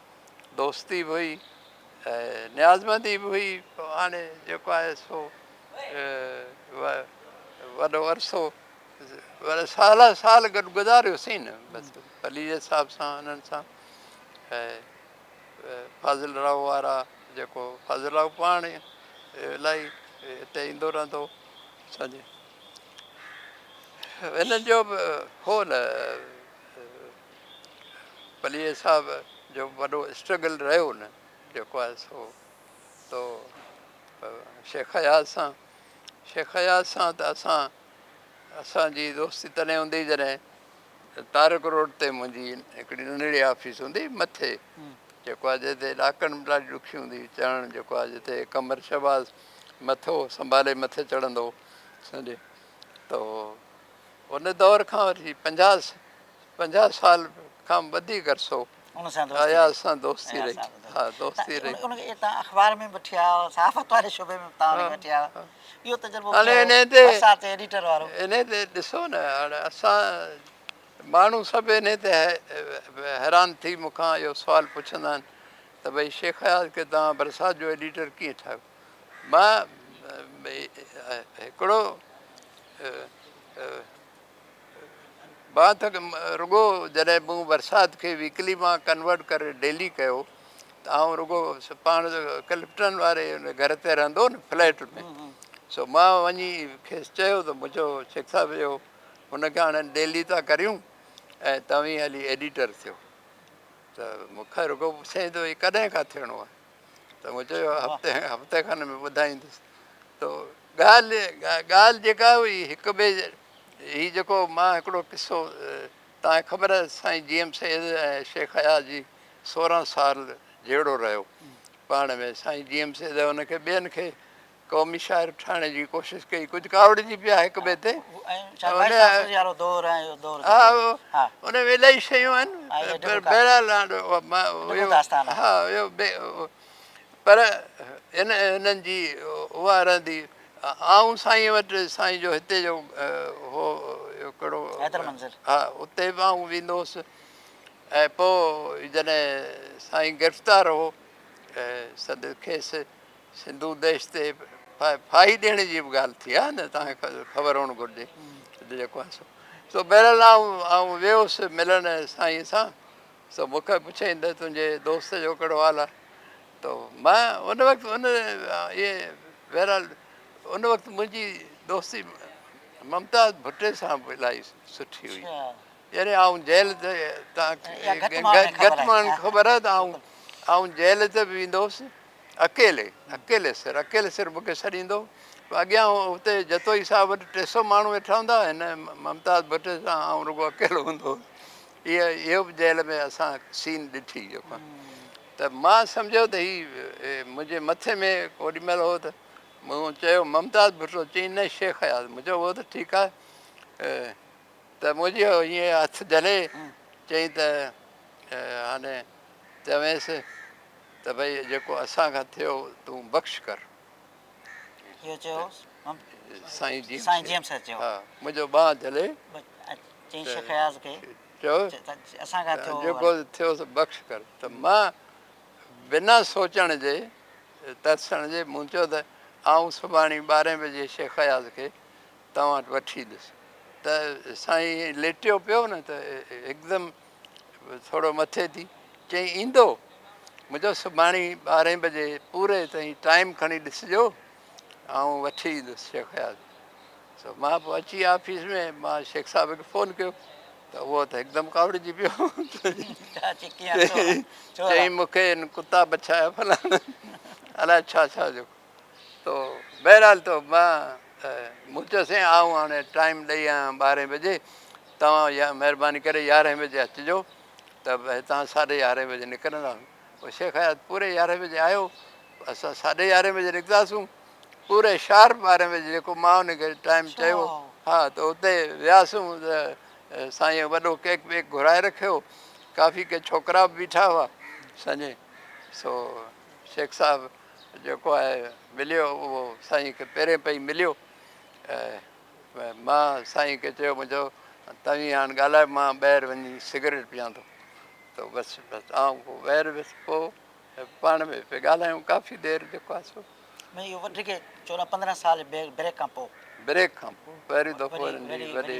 دوستي به هئي ۽ نيازمندي به هئي هاڻي جيڪو آهي سو وڏو عرصو وري سالا سال گڏ گذاريوسين نه بس پليجي صاحب سان انهن سان فاضل راء وارا جيڪو فاضل راء پاڻ الاهي هتي ايندو رهندو سمجهي هنن جو به هو نه پليجي صاحب جو وڏو اسٽرگل رهيو نه جيڪو آهي سو تو شيخ اياز سان شيخ اياز سان ته اسان اسانجي دوستي تڏهن هوندي هئي جڏهن تارڪ روڊ تي منهنجي هڪڙي ننڍڙي آفيس هوندي هئي مٿي جيڪو آهي جتي ڏاڪڻ به ڏاڍي ڏکي هوندي هئي چڙهڻ جيڪو آهي جتي قمر شهباز مٿو سنڀالي مٿي چڙهندو هو سمجهي تو ان دور کان وٺي پنجاهه سال کان وڌيڪ عرصو اياز سان دوستي رهي. انهي تي ڏسو نه هاڻي اسان ماڻهو سڀ انهي تي حيران ٿي مون کان اهو سوال پڇندا آهن ته ڀئي شيخ اياز کي توهان برسات جو ايڊيٽر ڪيئن ٺاهيو؟ مان هڪڙو بات رڳو جڏهن مون برسات کي ويڪلي مان ڪنورٽ ڪري ڊيلي ڪيو ته آئون رڳو پاڻ ڪلفٽن واري گهر تي رهندو هو نه فليٽ ۾ سو مان وڃي کيس چيو ته مون چيو شيخ صاحب اهو هن کي هاڻي ڊيلي ٿا ڪريون ۽ توهين هلي ايڊيٽر ٿيو ته مون کي رڳو پڇيائين ته ڪڏهن کان ٿيڻو آهي ته مون چيو هفتي هفتي کن ۾ ٻڌائيندس تو ڳالهه ڳالهه جيڪا هئي هڪ ٻئي هي جيڪو مان هڪڙو قصو تان خبر سائين جي ايم سيد ۽ شيخ اياز جي سورهن سال جهيڙو رهيو پاڻ ۾ سائين جي ايم سيد ان کي ٻين کي قومي شاعر ٺهڻ جي ڪوشش ڪئي ڪجهه ڪاوڙجي پيا هڪ ٻئي تي ان ۾ الائي شيون آهن پر بهرحال پر انهن جي اها رهندي آئون سائين وٽ سائين جو هتي جو هو ڪهڙو ها اتي به آئون ويندو هوس ۽ پوء جڏهن سائين گرفتار هو سندس کيس سنڌو ديش تي ڦاهي ڏيڻ جي به ڳالهه ٿي آهي نه توهان کي خبر هئڻ گهرجي ته جيڪو آهي سو سو بهرحال آئون ويوس ملڻ سائين سان سو مون کي پڇيائين ته تنهنجي دوست جو ڪهڙو حال آهي تو مان ان وقت ان اهي بهرحال ان وقت منهنجي دوستي ممتاز ڀٽي سان به الاهي سٺي هئي يعني آئون جيل ته گهٽ ماڻهن کي خبر آهي ته آئون آئون جيل ته به ويندو هوس اڪيلي اڪيلي سر اڪيلي سر مون کي سڏيندو هو اڳيان اتي جتوئي صاحب وٽ ٽي سو ماڻهو ويٺا هوندا هن ممتاز ڀٽي سان آئون رڳو اڪيلو هوندو هوس اها اهو به جيل ۾ اسان سين ڏٺي جيڪو ته مان سمجهيو ته هي منهنجي مٿي ۾ اوڏي مهل هو ته مون چيو ممتاز ڀٽو چيائين نه شيخ اياز مون چيو هو ته ٺيڪ آهي ته منهنجي ائين هٿ جهلي چيائين ته هاني چوينس ته ڀئي جيڪو اسان کان ٿيو تون بخش ڪر. اهو چيو سائين جيم سر چيو. ها منهنجو ٻانهن جهلي چيائين شيخ اياز کي چيو ته اسان کان ٿيو جيڪو ٿيو سو بخش ڪر ته مان بنا سوچڻ جي ترسڻ جي مون چيو ته آئون سڀاڻي ٻارهين بجي شيخ اياز کي توهان وٽ وٺي ايندس ته سائين ائين ليٽيو پيو نه ته هڪدم ٿورو مٿي ٿي چيائين ايندو مون چيو سڀاڻي ٻارهين بجي پوري تائين ٽائيم کڻي ڏسجو آئون وٺي ايندس شيخ اياز سو مان پوء اچي آفيس ۾ مان شيخ صاحب کي فون ڪيو ته اهو ته هڪدم ڪاوڙجي پيو چيائين مون کي هن ڪتا بڇايا فلاڻا الاء ڇا ڇا جو تو بهرحال تو مان مون چيو سائين آئون هاڻي ٽائيم ڏئي آيان ٻارهين بجي توهان يا مهرباني ڪري يارهين بجي اچجو ته هتان ساڍي يارهين بجي نڪرنداسون پوء شيخ حيات پوري يارهين بجي آيو اسان ساڍي يارهين بجي نڪتاسون پوري شارپ ٻارهين بجي جيڪو مان ان کي ٽائيم چيو ها ته اتي وياسون ته سائين وڏو ڪيڪ ويڪ گهرائي رکيو ڪافي ڪي ڇوڪرا به بيٺا هئا سمجهين سو شيخ صاحب جيڪو آهي مليو اهو سائين کي پهرين پئي مليو ۽ مان سائين کي چيو مون چيو توهين هاڻ ڳالهايو مان ٻاهر وڃي سگريٽ پيان ٿو ته بس بس آئون پوء ٻاهر ويس پوء پاڻ ۾ پئي ڳالهايون ڪافي دير جيڪو آهي سو مطلب اهو وڌيڪ چوڏهن پندرهن سال بريڪ کان پوء بريڪ کان پوء پهريون دفعو هنن جي وڏي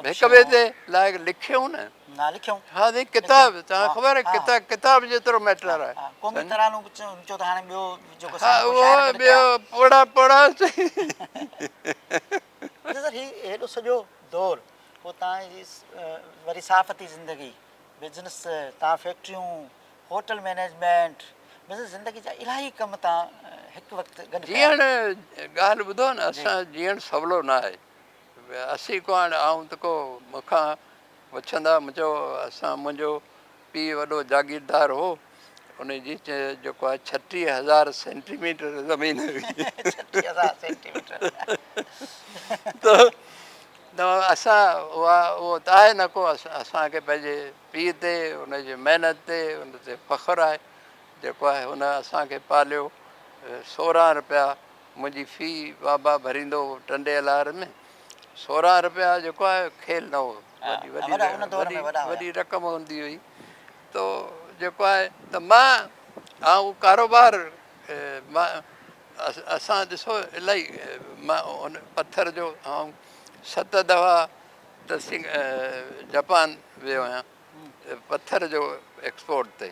هڪ ٻئي تي لائق لکيو نه نه لکيو. ها سائين ڪتاب توهان خبر ڪتا ڪتاب جيترو ميٽر آهي. قومي ترانو به چئو ته هاڻي ٻيو جيڪو سائين ڪو شاعر گڏ ڪيا. ها ٻيو پوڙها پوڙها سائين. اچا سر هي هيڏو سڄو دور پوء توهان جي وري صحافتي زندگي بزنس توهان فيڪٽريون هوٽل مينيجمينٽ بزنس زندگي جا الاهي ڪم توهان هڪ وقت گڏ ڪيا. جيئڻ ڳالهه ٻڌو نه اسان جيئڻ سولو نه آهي. اسين ڪهاڻ آئون ته ڪو مون کان پڇندا مون چيو اسان منهنجو پيء وڏو جاگيردار هو ان جي جيڪو آهي ڇٽيهه هزار سينٽي ميٽر زمين هئي ته اسان اها اهو ته آهي نه ڪو اسان کي پنهنجي پيء تي ان جي محنت تي ان تي فخر آهي جيڪو آهي هن اسان کي پاليو سورهن روپيا منهنجي في بابا ڀريندو هو ٽنڊي الار ۾ سورهن رپيا جيڪو آهي کيل نه هو وڏي رقم هوندي هئي تو جيڪو آهي ته مان ها اهو ڪاروبار مان اسان ڏسو الاهي مان ان پٿر جو آئون ست دفعا ته سنگ جپان ويو آهيان پٿر جو ايڪسپورٽ تي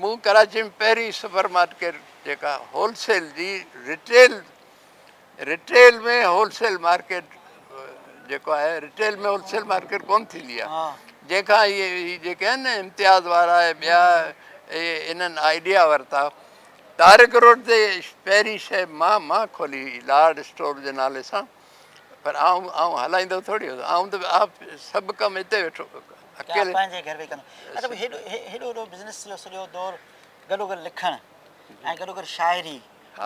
مون ڪراچي ۾ پهرين سپر مارڪيٽ جيڪا هول سيل جي retail retail ۾ wholesale market جيڪو آهي رٽيل ۾ هول سيل مارڪيٽ ڪون ٿيندي آهي جنهن کان اهي جيڪي آهن نه امتياز وارا ۽ ٻيا انهن آئيڊيا ورتا تارڪ روڊ تي پهرين شي مان مان کولي هئي لارڊ اسٽور جي نالي سان پر آئون آئون هلائيندو ٿوري هوندو آئون ته آ سڀ ڪم هتي ويٺو اڪيلي پنهنجي گهر ويهي ڪندو اچا بھي هيڏو هيڏو وڏو بزنس جو سڄو دور گڏو گڏ لکڻ ۽ گڏو گڏ شاعري ٽن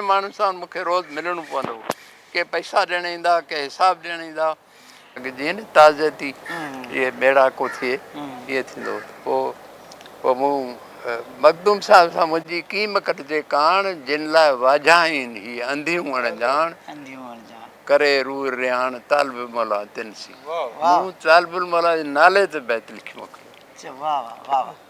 ماڻهن سان مون کي روز ملڻو پوندو هو ڪي پئسا ڏيڻ ايندا ڪي حساب ڏيڻ ايندا اڳ جيئن نه تعزيتي جيئن ميڙاڪو ٿئي ايئن ٿيندو هو پوء مون مخدوم صاحب سان منهنجي ڪيئي مڪٽ جي ڪاڻ جن لاء واجهائين هي انڌيون اڻڄاڻ ڪري روح رياڻ طالب الموليٰ تن سين مون طالب الموليٰ جي نالي تي بيت لکي موڪليو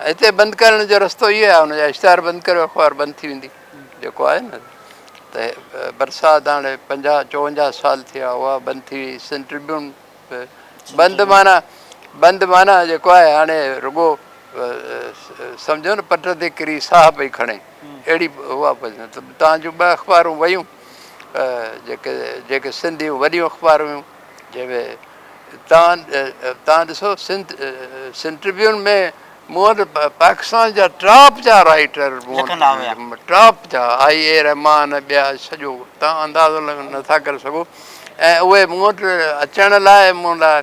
هتي بند ڪرڻ جو رستو اهو آهي ان جا اشتهار بند ڪريو اخبار بند ٿي ويندي جيڪو آهي نه ته برسات هاڻي پنجاهه چوونجاهه سال ٿي ويا اها بند ٿي وئي سنڌ ٽربيون بند معنيٰ بند معنيٰ جيڪو آهي هاڻي رڳو سمجهو نه پٽ تي ڪري ساهه پئي کڻي اهڙي اها تان جون ٻه اخبارون ويون جيڪي جيڪي سنڌ جون وڏيون اخبار هيون جي وي تان تان ڏسو سنڌ سنڌ ٽربيون ۾ مون وٽ پاڪستان جا ٽاپ جا رائٽر ٽاپ جا آئي اي رحمان ٻيا سڄو تان اندازو نٿا ڪري سگهو ۽ اهي مون وٽ اچڻ لاء مون لاء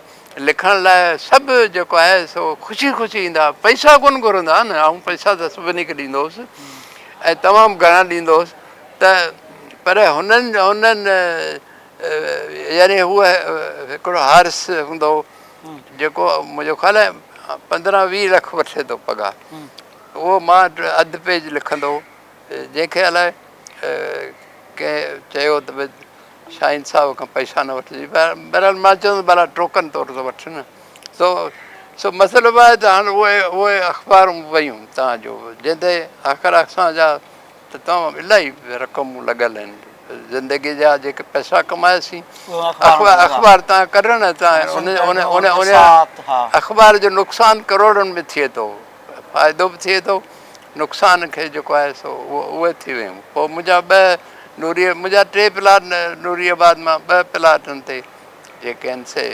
لکڻ لاء سڀ جيڪو آهي سو خوشي خوشي ايندا پئسا ڪون گهرندا نه آئون پئسا ته سڀني کي ڏيندو هوس ۽ تمام گهڻا ڏيندو هوس ته پر هنن هنن يعني هو هڪڙو هارس هوندو جيڪو منهنجو خيال آهي پندرهن ويهه لک وٺي ٿو پگهار اهو مان اڌ پيج لکندو جنهن کي الائي ڪنهن چيو ته ڀاء شاهين صاحب کان پئسا نه وٺجي بهرحال مان چوندو ڀلا ٽوڪن طور ته وٺ نه سو سو مسئلو به آهي ته هاڻي اهي اهي اخبارون ويون تان جو جنهن تي آخر اسان جا ته توهان الائي رقمون لڳل آهن زندگي جا جيڪي پئسا ڪمايا سين اخبار تان ڪڍڻ ان اخبار جو نقصان ڪروڙن ۾ ٿئي ٿو فائدو به ٿئي ٿو نقصان کي جيڪو آهي سو اهي ٿي ويون پوء منهنجا ٻه نوري منهنجا ٽي پلاٽ نوري آباد مان ٻه پلاٽن تي جيڪي آهن سي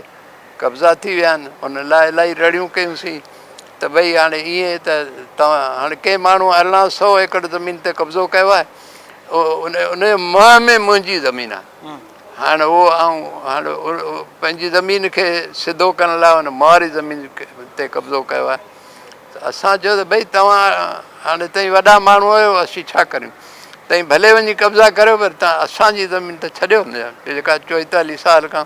قبضا ٿي ويا آهن ان لاء الائي رڙيون ڪيونسين ته ڀئي هاڻي ائين ته توهان هاڻي ڪنهن ماڻهو ارڙهن سئو ايڪڙ زمين تي قبضو ڪيو آهي ان جي منهن ۾ منهنجي زمين آهي هاڻي اهو آئون هاڻي پنهنجي زمين کي سڌو ڪرڻ لاء ان ماري زمين تي قبضو ڪيو آهي ته اسان چيو ته ڀئي توهان هاڻي تائين وڏا ماڻهو آهيو اسين ڇا ڪريون تائين ڀلي وڃي قبضا ڪريو پر تان اسانجي زمين ته ڇڏيو جيڪا چوئيتاليهه سال کان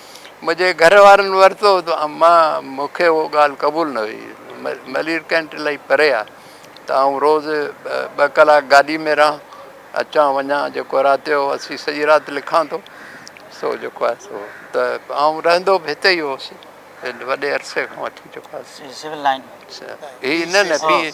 منهنجي گهر وارن ورتو ته مان مون کي اهو ڳالهه قبول نه هئي. ملير ڪينٽ الائي پري آهي ته آئون روز ٻه ڪلاڪ گاڏي ۾ رهان، اچان وڃان، جيڪو رات جو اسين سڄي رات لکان ٿو سو جيڪو آهي سو ته آئون رهندو به هتي ئي هوس وڏي عرصي کان وٺي جيڪو آهي سو. هي سول لائن ۾. هي نه نه پي.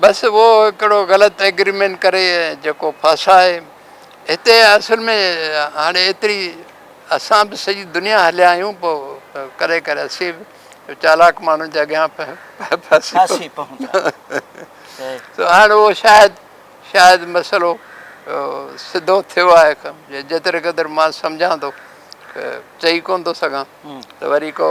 بس اهو هڪڙو غلط ايگريمينٽ ڪري جيڪو ڦاسائي هتي اصل ۾ هاڻي ايتري اسان به سڄي دنيا هليا آهيون پو ڪري ڪري اسين به چالاڪ ماڻهن جي اڳيان ڦاسي پون ٿا سو هاڻي اهو شايد شايد مسئلو سڌو ٿيو آهي جيتري قدر مان سمجهان ٿو چئي ڪون ٿو سگهان ته وري ڪو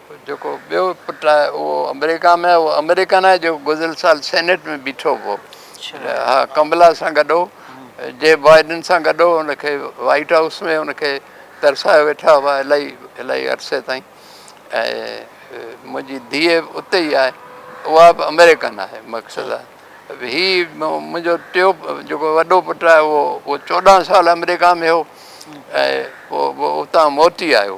جيڪو ٻيو پٽ آهي اهو آمريڪا ۾ آهي اهو آمريڪن آهي جيڪو گذريل سال سينيٽ ۾ بيٺو هو ها ڪملا سان گڏ هو جي بائيڊن سان گڏ هو ان کي وائيٽ هائوس ۾ ان کي ترسايو ويٺا هئا الائي الائي عرصي تائين ۽ منهنجي ڌيء اتي ئي آهي اها به آمريڪن آهي مقصد آهي هي منهنجو ٽيو جيڪو وڏو پٽ آهي اهو اهو چوڏهن سال آمريڪا ۾ هو ۽ اتان موٽي آيو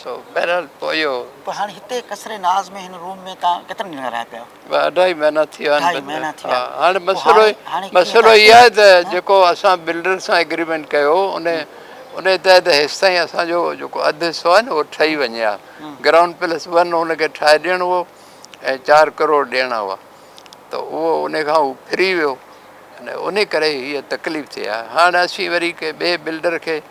سو بهرحال پوء اهو. پوء هاڻي هتي قصر ناز ۾ هن روم ۾ تان ڪيترا ڏينهن رهيا پيا؟ ٻه اڍائي مهينا ٿي ويا آهن بنجر ها هاڻي مسئلو مسئلو هي آهي ته جيڪو اسان بلڊر سان ايگريمينٽ ڪيو ان ان تحت هيستائين اسان جو جيڪو اڌ حصو آهي نه اهو ٺهي وڃي ها گرائونڊ پلس ون ان کي ٺاهي ڏيڻو هو ۽ چار ڪروڙ ڏيڻا هئا ته اهو ان کان هو ڦري ويو ان ڪري هيء تڪليف ٿي آهي هاڻ اسين وري ڪنهن ٻئي بلڊر کي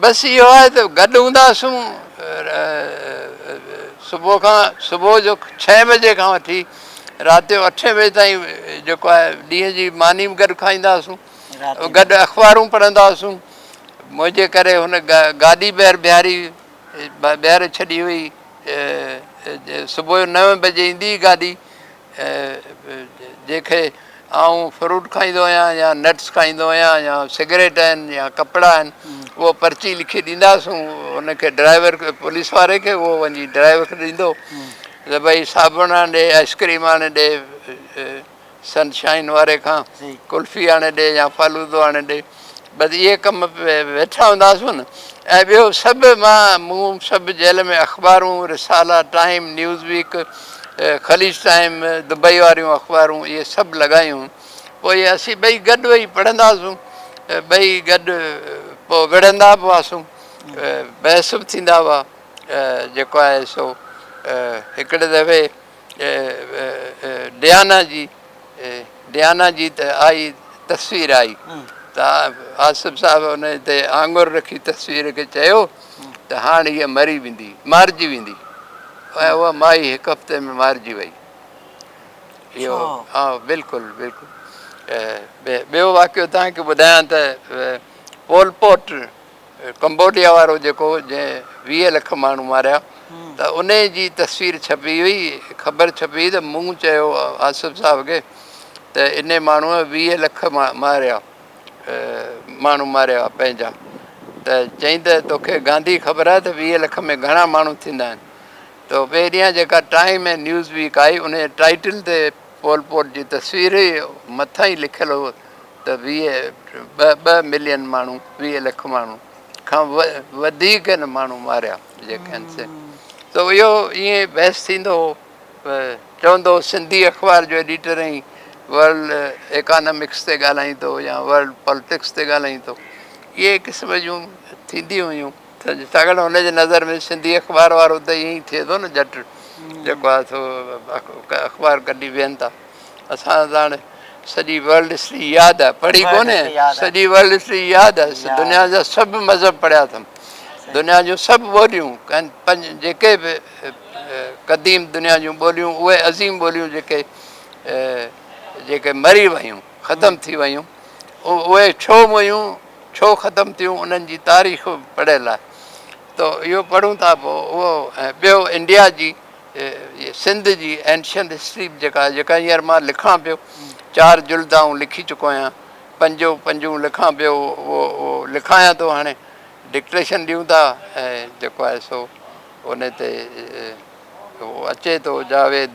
بس اهو آهي ته گڏ هونداسون صبح کان صبح جو ڇهين بجي کان وٺي رات جو اٺين بجي تائين جيڪو آهي ڏينهن جي ماني به گڏ کائيندا هئاسون گڏ اخبارون پڙهندا هئاسون منهنجي ڪري هن گاڏي ٻيهر بيهاري ٻيهر ڇڏي هئي صبح جو نوين بجي ايندي هئي گاڏي جيڪي آئون فروٽ کائيندو آهيان يا نٽس کائيندو آهيان يا سگريٽ آهن يا ڪپڙا آهن اهو پرچي لکي ڏينداسون ان کي ڊرائيور کي پوليس واري کي اهو وڃي ڊرائيور کي ڏيندو ته ڀئي صابڻ آڻي ڏي آئسڪريم آڻي ڏي سن شائن واري کان ڪلفي آڻي ڏي يا فالودو آڻي ڏي بس اهي ڪم ويٺا هونداسون ۽ ٻيو سڀ مان مون سڀ جيل ۾ اخبارون، رسالا، ٽائيم، نيوز ويڪ، خليج ٽائيم، دبئي واريون اخبارون اهي سڀ لڳايون پوء اسين ٻئي گڏ ويهي پڙهنداسون ٻئي گڏ پوء وڙهندا به هئاسون بحث به ٿيندا هئا جيڪو آهي سو هڪڙي دفعي ڊيانا جي ڊيانا جي ته آئي تصوير آئي ته آصف صاحب ان تي آڱر رکي تصوير کي چيو ته هاڻ هيء مري ويندي مارجي ويندي ۽ اها مائي هڪ هفتي ۾ مارجي وئي اهو ها بلڪل بلڪل ٻيو واقعو تنهن کي ٻڌايان ته پول پوٽ ڪمبوڊيا وارو جيڪو جنهن ويهه لک ماڻهو ماريا ته انهي جي تصوير ڇپي هئي خبر ڇپي هئي ته مون چيو آصف صاحب کي ته انهي ماڻهو ويهه لک ماريا ماڻهو ماريا پنهنجا ته چئين ته توکي گانڌي خبر آهي ته ويهه لک ۾ گهڻا ماڻهو ٿيندا آهن ته پهريان جيڪا ٽائيم ۽ نيوز ويڪ آئي انهي ٽائيٽل تي پول پوٽ جي تصوير هئي، مٿان ئي لکيل هو ته ويهه ٻه ٻه ملين ماڻهو، ويهه لک ماڻهو کان وڌيڪ هن ماڻهو ماريا جيڪي آهن سي ته اهو ائين بحث ٿيندو هو چوندو هو سنڌي اخبار جو ايڊيٽر ائين ورلڊ ايڪانامڪس تي ڳالهائيندو يا ورلڊ پالٽڪس تي ڳالهائيندو اهي قسم جون ٿينديون هيون ڇاڪاڻ هن جي نظر ۾ سنڌي اخبار وارو ته ائين ئي ٿئي ٿو نه ڄٽ جيڪو آهي سو اخبار ڪڍي ويهن ٿا اسان ته هاڻي سڄي ورلڊ هسٽري ياد آهي پڙهي ڪونهي سڄي ورلڊ هسٽري ياد آهي دنيا جا سڀ مذهب پڙهيا اٿم دنيا جون سڀ ٻوليون جيڪي به قديم دنيا جون ٻوليون اهي عظيم ٻوليون جيڪي جيڪي مري ويون ختم ٿي ويون اهي ڇو ويون ڇو ختم ٿيون انهن جي تاريخ به پڙهيل آهي ته اهو پڙهون ٿا پوء اهو ۽ ٻيو انڊيا جي سنڌ جي اينشنٽ هسٽري به جيڪا آهي جيڪا هينئر مان لکان پيو چار جلد آئون لکي چڪو آهيان پنجو پنجون لکان پيو اهو اهو لکايان ٿو هاڻي ڊڪٽيشن ڏيون ٿا ۽ جيڪو آهي سو ان تي اهو اچي ٿو جاويد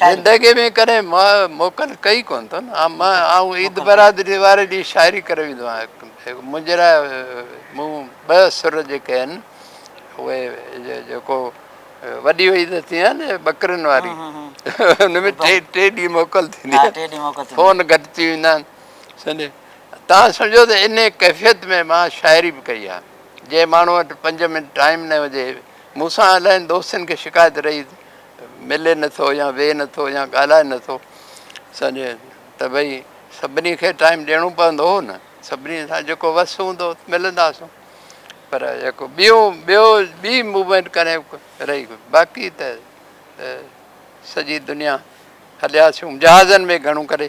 زندگيء ۾ ڪڏهن موڪل ڪئي ڪونه اٿن. آئون عيد برادري واري ڏينهن شاعري ڪري ويندو آهيان. منهنجي لاء مون ٻه سر جيڪي آهن اهي جيڪو وڏي عيد ٿيندي آهي نه ٻڪرين واري ان ۾ ٽي ٽي ڏينهن موڪل ٿيندي آهي فون گهٽ ٿي ويندا آهن سمجهي تان سمجهو ته انهي ڪيفيت ۾ مان شاعري به ڪئي آهي. جنهن ماڻهو وٽ پنج منٽ ٽائيم نه هجي مون سان الاهين دوستن کي شڪايت رهي ملي نه ٿو يا ويهي نه ٿو يا ڳالهائي نه ٿو سمجهه ته ڀئي سڀني کي ٽائيم ڏيڻو پوندو هو نه سڀني سان جيڪو وس هوندو ملنداسون پر جيڪو ٻيو ٻيو ٻي موومينٽ ڪري رهي باقي ته سڄي دنيا هلياسون جهازن ۾ گهڻو ڪري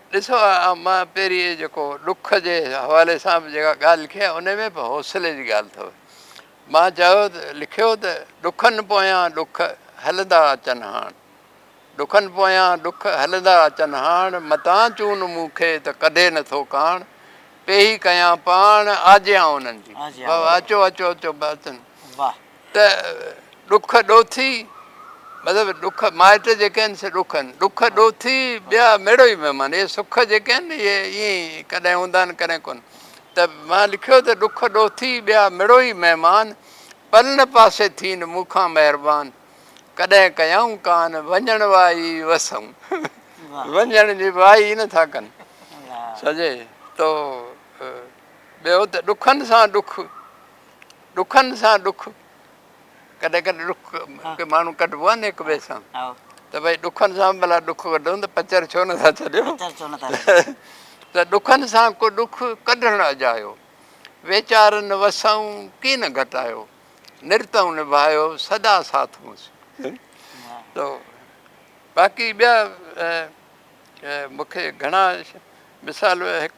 ڏسو مان پيري جيڪو ڏک جي حوالي سان به جيڪا ڳالهه لکي آهي ان ۾ به حوصلي جي ڳالهه اٿو مان چيو لکيو ته ڏکن پويان ڏک هلندا اچن هاڻ ڏکن پويان ڏک هلندا اچن هاڻ متان چون مون کي ته ڪڍي نٿو ڪاڻ پيهي ڪيان پاڻ آجيان انهن جي اچو اچو اچو اچن ته ڏک ڏوٿي، مطلب ڏک مائٽ جيڪي آهن سي ڏک آهن، ڏک ڏوٿي ٻيا ميڙو ئي مهمان، اهي سک جيڪي آهن اهي ائين ئي ڪڏهن هوندا آهن ڪڏهن ڪونه، ته مان لکيو ته ڏک ڏوٿي ٻيا ميڙو ئي مهمان، پلن پاسي ٿين مون کان مهربان، ڪڏهن ڪيائون ڪان وڃڻ وائي وسئون، وڃڻ جي وائي ئي نه ٿا ڪن، سڄي تو ٻيو ته ڏکن سان ڏک. ڏکن سان ڏک ڪڏهن ڪڏهن ڏک ڪي ماڻهو ڪڍبو آهي نه هڪ ٻئي سان ته ڀئي ڏکن سان به ڀلا ڏک ڪڍون ته پچر ڇو نٿا ڇڏيو ته ڏکن سان ڪو ڏک ڪڍڻ اجايو ويچارن وسئون ڪي نه گهٽايو نرتئون نڀايو سدا ساٿ هونس تو باقي ٻيا مونکي گهڻا مثال هڪ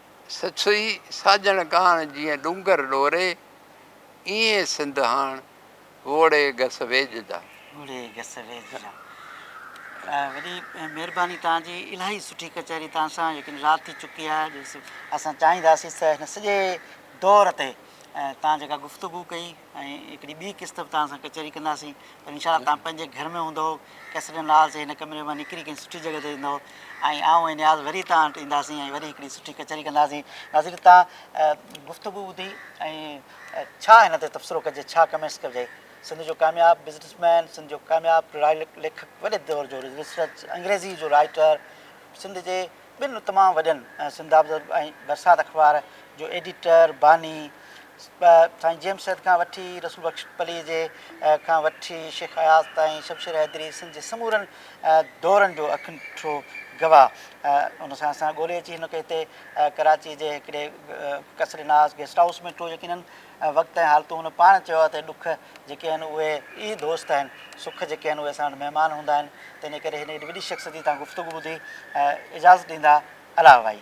سسئي ساڄڻ ڪاڻ جيئن ڏونگر ڏوري، ايئن سنڌ هاڻ ووڙي گس ويڄ جا. ووڙي گس ويڄ جا. وڏي مهرباني توهان جي الاهي سٺي ڪچهري توهان سان ليڪن رات ٿي چڪي آهي جو اسان چاهينداسين ته هن سڄي دور تي توهان جيڪا گفتگو ڪئي ۽ هڪڙي ٻي قسط به توهان سان ڪچهري ڪنداسين پر انشاء الله توهان پنهنجي گهر ۾ هوندئو ڪيسٽن لال جي هن ڪمري مان نڪري ڪنهن سٺي جڳهه تي ويندئو ۽ آئون ۽ نياز وري توهان وٽ اينداسين ۽ وري هڪڙي سٺي ڪچهري ڪنداسين ناظرين توهان گفتگو ٻڌي ۽ ڇا هن تي تبصرو ڪجي ڇا ڪمينٽس ڪجي سنڌ جو ڪامياب بزنس مين سنڌ جو ڪامياب ليکڪ وڏي دور جو ريسرچ انگريزي جو رائيٽر سنڌ جي ٻن تمام وڏن سنڌابزرگ ۽ برسات اخبار جو ايڊيٽر، باني، سائين جيمس سيد کان وٺي رسول بخش پليجي کان وٺي شيخ اياز تائين شمشير حيدري سنڌ جي سمورن دورن جو اکنٺو گواهه ان سان اسان ڳولي اچي هن کي هتي ڪراچي جي هڪڙي قصر ناز گيسٽ هائوس ۾ ٽو يقينن وقت ۽ حالتون هن پاڻ چيو آهي ته ڏک جيڪي آهن اهي ئي دوست آهن، سک جيڪي آهن اهي اسان وٽ مهمان هوندا آهن، تنهنجي ڪري هن ايڏي وڏي شخصيت جي توهان گفتگو ٻڌي اجازت ڏيندا الاهه ڀائي.